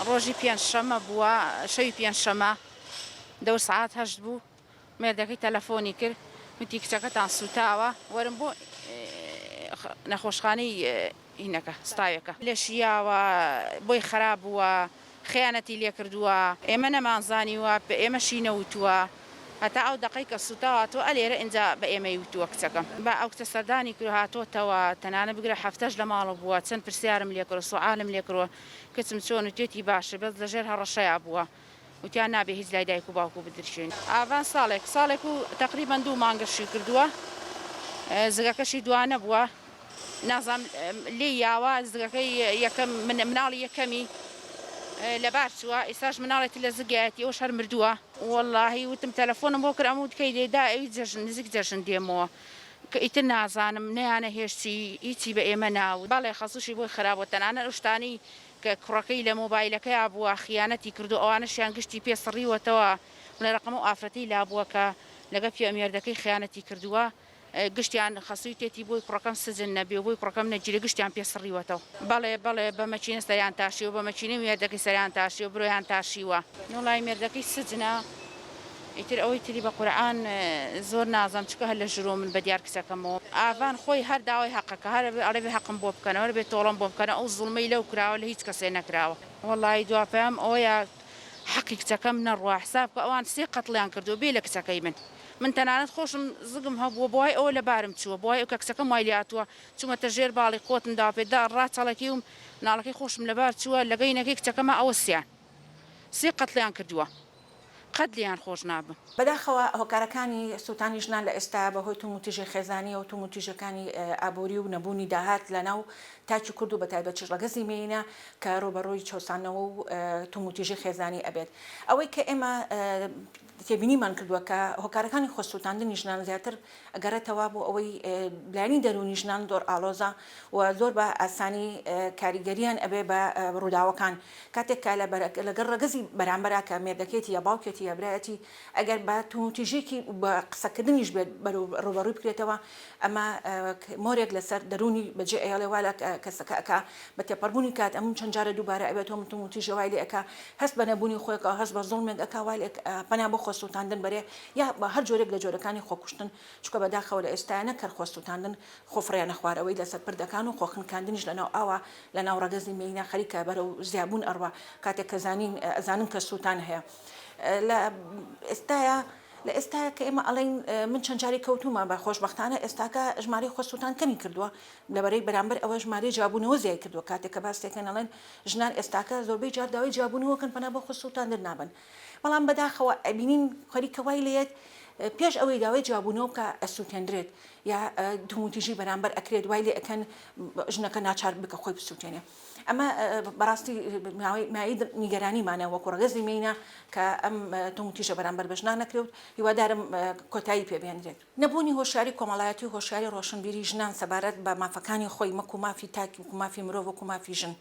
ڕۆژی پێنج شەمە بووە شەوی پێنج شەمە دەور سعات هەشت بوو مێردەکەی تەلەفۆنی کرد وتی کچەکەتان سوتاوە وەرم بۆ نەخۆشخانەی هینەکە ستاوەکە لەشیاوە بۆی خراپ بووە خیانەتی لێ کردووە ئێمە نەمانزانیوە بە ئێمەشی نەوتووە هەتا ئەو دقەی کە سوتاوە تۆ ئەلێرە ئینجا بە ئێمەی وتووە کچەکەم بە ئەو کچە سەردانی کرد هاتۆتەوە تەنانە بگرە هەفتەش لە ماڵە بووە چەند پرسیارم لێکرد سوعالم لێکرۆن کچم چۆن وتێتی باشە بەس لەژێر هەڕەشەیا بووە وتیان نابێ هیچ لای دایک و باوک و بدرکێنی ئاڤان ساڵێک ساڵێک و تەقریبەن دوو مانگە شووی کردووە زگەکەشی دوانە بووە نازام لێ یاوە زگەکەی یەکەم مناڵی یەکەمی لەبار چووە ئێستاش مناڵێتی لە زگایەتی ئەوش هەر مردووە واللهی وتم تەلەفۆنم بۆ کرد ئەموت کەی دێدا ئەوی جەژن نزیک جەژن دێمەوە کە ئیتر نازانم نەیانەهێشت چی ئیچی بە ئێمە ناوت بەڵێ خەسوشی بۆی خراپ بوە تەنانەت ئەو شتانەی کە کوڕەکەی لە مۆبایلەکەیا بوە خیانەتی کردوە ئەوانەشیان گشتی پێ سڕیوەتەوە بڵێ ڕەقەم ئەو ئافرەتەی لابوە کە لەگەڵ پیاو مێردەکەی خیانەتی کردوە گشتیان خەسوی تێتی بۆی کوڕەکەم سجن نەبێ و بۆی کوڕەکەم نەگیرێ گشتیان پێ سڕیوەتەوە بەڵێ بەڵێ بە مەکینە سەریان تاشیوە بە مەکینەی مێردەکەی سەریان تاشیوە برۆیان تاشیوە نۆلای مێردەکەی سجنە. ئیتر ئەوەی تری بە قورعان زۆر نازانم چونکە هەر لە ژرۆ من بە دیار کچەکەمەوە ئاڤان خۆی هەر داوای هەقەکە هەر ئەبێ ئەڵێ بێ هەقم بۆ بکەنەوە هەر بێ تۆڵەم بۆ بکەنە ئەو زوڵمەی لەو کراوە لە هیچ کەسێ نەکراوە وەڵایی دوا پەیام ئەوەیە حەقی کچەکەم نەڕوا حساب کە ئەوان سێ قەتڵیان کردووە بێ لە کچەکەی من من تەنانەت خۆشم زگم هەبووە بۆای ئەوە لە بارم چووە بۆای ئەو کە کچەکەم وای لێ هاتووە چوومەتە ژێر باڵی قوتم داوە پێ دا ڕاچەڵەکیوم ناڵەکەی خۆشم لەبار چووە لەگەینەکەی کچەکەما ئەوە سیان سێ قەتڵیان کردووە. قەت لێیان خۆش نابم. بەداخەوە هۆکارەکانی سووتانی ژنان لە ئێستایا بەهۆی توموتیژی خێزانییە و توموتیژەکانی ئابووری و نەبوونی داهات لە ناو تاکی کورد و بەتایبەتیش ڕەگەزی مێینە کە ڕووبەڕووی چەوسانەوە و توموتیژی خێزانی ئەبێت ئەوەی کە ئێمە تێبینیمان کردووە کە هۆکارەکانی خۆسووتاندنی ژنان زیاتر ئەگەڕێتەوە بۆ ئەوەی لایەنی دەروونی ژنان زۆر ئاڵۆزە و زۆر بە ئاسانی کاریگەریان ئەبێ بە ڕووداوەکان کاتێک کە لەگەڵ ڕەگەزی بەرامبەرا کە مێردەکەیەتی یا باوکێتی یا برایەتی ئەگەر بە توندوتیژیکی بە قسەکردنیش بێت ڕووبەڕووی بکرێتەوە ئەمە مۆرێک لەسەر دەروونی بەجێ ئەیەڵێ وا لە کەسەکە ئەکا بە تێپەڕبوونی کات ئەموو چەند جارە دووبارە ئەبێت تۆ من توندوتیژی وای لێ ئەکا هەست بە نەبوونی خۆیەکەوە هەست بە زوڵمێک ئەکا وا لێ پەنا بۆ خۆسووتاندن بەرێ یا هەر جۆرێک لە جۆرەکانی خۆکوشتن، چونکە بەداخەوە لە ئێستایا نەک هەر خۆسووتاندن، خۆفڕیانە خوارەوەی لەسەر پردەکان و خۆخنکاندنیش لەناو ئاوا، لەناو ڕەگەزی مێینە خەریکە بەرەو زیابوون ئەڕوا، کاتێک کە زانین ئەزانن کە سووتان هەیە. لە ئێستایا لە ئێستایا کە ئێمە ئەڵێین من چەند جارێک کەوتوومە، بە خۆشبەختانە ئێستاکە ژمارەی خۆسووتان کەمی کردووە، لە بەرەی بەرامبەر ئەوە ژمارەی جیابوونەوە زیای کردووە، کاتێک کە باس لێکەین ئەڵێن ژنان ئێستاکە زۆربەی جار داوای جیابوونەوە ئەکەن پەنا بۆ خۆسووتاندن نابەن. بەڵام بەداخەوە ئەبینین خەریکە وای لێت پێش ئەوەی داوای جوابوونەوە بکە ئەسووتێنرێت یا توموتیژی بەرامبەر ئەکرێت وای لێ ئەەکەن ژنەکە ناچار بکە خۆی بسووتێنێ ئەمە بەڕاستی مای نیگەرانیمانە وەکو ڕگەزی مینە کە ئەم توموتیژە بەرامبەر بەژنا نەکرێت هیوادارم کۆتایی پێبێنرێت نەبوونی هۆشاری کۆمەڵایەتی هۆشاری ڕۆشنبیری ژنان سەبارەت بە مافەکانی خۆی مەکو مافی تاکی وکو مافی مرۆڤ وکو مافی ژن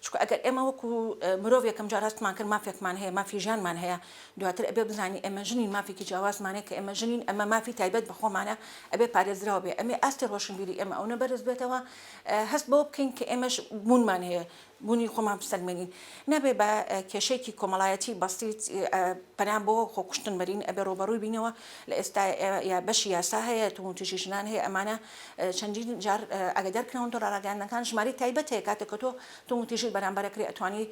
چونکە ئەگەر ئێمە وەکو مرۆڤ یەکەم جار هەستمان کرد مافێکمان هەیە مافی ژیانمان هەیە دواتر ئەبێ بزانین ئێمە ژنین مافێکی جیاوازمان هەیە کە ئێمە ژنین ئەمە مافی تایبەت بە خۆمانە ئەبێ پارێزراو بێ ئەمێ ئاستی ڕۆشنبیری ئێمە ئەونە بەرز بێتەوە هەست بەوە بکەین کە ئێمەش بوونمان هەیە بوونی خۆمان بسەلمێنین نابێ بە کێشەیەکی کۆمەڵایەتی بەسیت پەنا بۆ خۆکوشتن بەرین ئەبێ ڕووبەڕووی بینەوە لە ئێستا یا بەشی یاسا هەیە توندوتیژی ژنان هەیە ئەمانە چەندین جار ئاگادار کراون تۆڕە ڕاگەیاندنەکان ژمارەی تایبەت هەیە کاتێک کە تۆ توندوتیژیت بەرامبەر کرێ ئەتوانی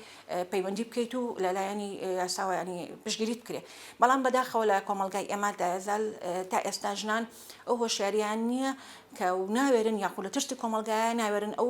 پەیوەندی بکەیت و لەلایەنی یاساوە ینی پشگیریت بکرێت بەڵام بەداخەوە لە کۆمەلگای ئێمادا زال تا ئێستا ژنان ئەو هۆشیاریان نییە کە و ناوێرن یاخود لە ترسی کۆمەلگایە ناوێرن ئەو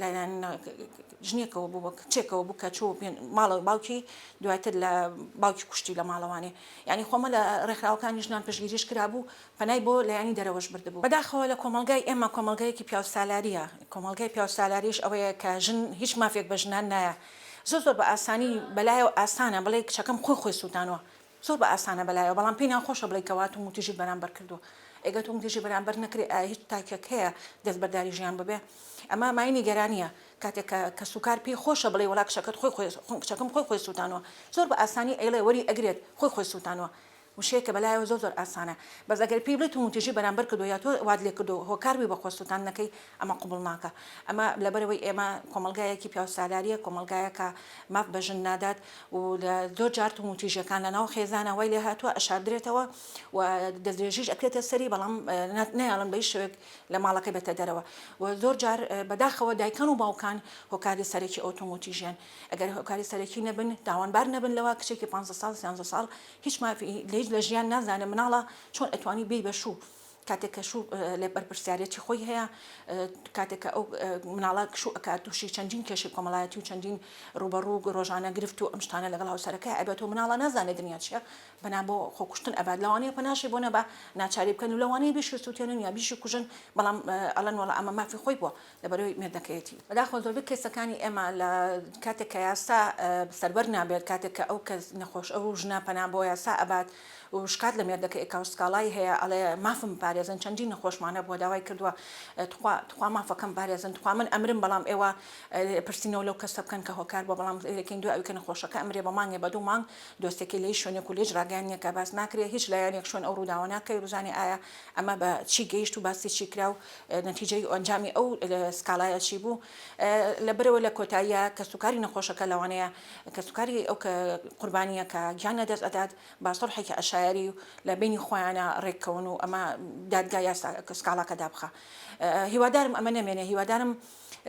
لەلایەن ژنێکەوە بوو بە کچێکەوە بوو کە چوو ماڵە باوکی دواتر لە باوکی کوشتی لە ماڵەوانێ ینی خۆمە لە ڕێکخراوەکانی ژنان پشگیریش کرابوو پەنای بۆ لایانی دەرەوەش بردبوو بەداخەوە لە کۆمەلگای ئێمە کۆمەلگایەکی پیاو سالاریە کۆمەلگای پیاو سالاریش ئەوەیە کە ژن هیچ مافێک بە ژنان نایە زۆر زۆر بە ئاسانی بەلایە و ئاسانە بڵێ کچەکەم خۆی خۆی سووتانەوە زۆر بە ئاسانە بەلایەوە بەڵام پێی ناخۆشە بڵێی کەوا توندوتیژیت بەرامبەر کردووە ئێگەر توندوتیژی بەرامبەر نەکرێ ئایا هیچ تاکێک هەیە دەستبەرداری ژیان ببێ ئەمە مای نیگەرانیە کاتێک کە کەسوکار پێی خۆشە بڵێی وەڵا کچەکەت خۆی خۆی کچەکەم خۆی خۆی سوتانوە زۆر بە ئاسانی ئەیڵێ وەری ئەگرێت خۆی خۆی سوتانوە وشەیەکە بەلایەوە زۆر زۆر ئاسانە بەس ئەگەر پێی بڵێی توندوتیژی بەرامبەر کردووە یا تۆ وات لێ کردووە هۆکار بووی بە خۆ سوتاندنەکەی ئەمە قبوڵ ناکا ئەمە لەبەرئەوەی ئێمە کۆمەڵگایەکی پیاوسالاریە کۆمەڵگایە کە ماف بە ژن نادات و لە زۆر جار توم و تیژەکان لە ناو خێزانە وای لێ هاتووە ئەشاردرێتەوە و دەستدرێژیش ئەکرێتە سەری بەڵام نەیاڵن بەی شوێک لە ماڵەکەی بێتە دەرەوە و زۆر جار بەداخەوە دایکان و باوکان هۆکاری سەرەکی ئەو توم و تیژیان ئەگەر هۆکاری سەرەکی نەبن تاوانبار نەبن لەوە کچێکی پ ساڵ سیانزە ساڵ هیچ مافی لە ژیان نازانێ مناڵە چۆن ئەتوانی بێی بەشوو کاتێک کە شوو لێ بەرپرسیارێتی خۆی هەیە کاتێک کە ئەو مناڵە کشوو ئەکات تووشی چەندین کێشی کۆمەڵایەتی و چەندین ڕوبەڕوو گۆژانە گرفت و ئەمشتانە لەگەڵ هاوسەرەکە ئەبێت و مناڵە نازانێت دنیا چیە بەنا بۆ خۆکوشتن ئەبات لەوانەیە پەناشی بۆ نەبا ناچاری بکەن و لەوانەیە بیشی سووتێنن یا بیشی کوژن بەڵام ئەڵەن وڵە ئەمە مافی خۆی بووە لە بەرەی مێردەکەیەتی بەداخەوە زۆربەی کەیسەکانی ئێمە لە کاتێک کە یاسا سەربەر نابێت کاتێک کە ئەو کەس نەخۆش ئەو ژنە پەنا بۆ یاسا ئەبات و شکات لە مێردەکە ئێکا و سکاڵای هەیە ئەڵێ مافم بپارێزن چەندین نەخۆشمان هەبووە داوای کردووە تخوا تخوا مافەکەم بپارێزن تخوا من ئەمرم بەڵام ئێوە پرسینەوە لەو کەسە بکەن کە هۆکار بووە بەڵام لەکەین دوای ئەوی کە نەخۆشەکە ئەمرێ بە مانگێ بە دوو مانگ دۆسیەکەی لە هیچ شوێنێک و لە هیچ ڕاگەیەنێکا باس ناکرێ هیچ لایەنێک شوێن ئەو ڕووداوە ناکەوێ بزانێ ئایا ئەمە بە چی گەیشت و باسی چی کرا و نەتیجەی و ئەنجامی ئەو سکاڵایە چی بوو؟ لەبەرەوە لە کۆتاییا کەسوکاری نەخۆشەکە لەوانەیە کەسوکاری ئەو قوربانییە کە گیان لەدەست ئەدات بە سوڵحێکی عەشایەری و لە بەینی خۆیانا ڕێککەون و ئەمە دادگا یاسا سکاڵاکە دابخا. هیوادارم ئەمە نەمێنێ هیوادارم.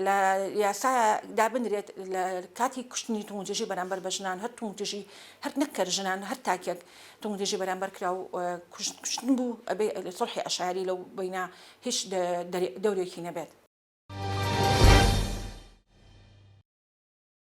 لە یاسا دابنرێت لە کاتی کوشتنی توندژی بەرامبەر بە ژنان هەر توندژی هەر نەکەر ژنان هەر تاکێک توندژی بەرامبەر کرا و کوشتن بوو ئەبێ سڵحی عشایری لەو بینە هیچ دەورێکی نەبێت.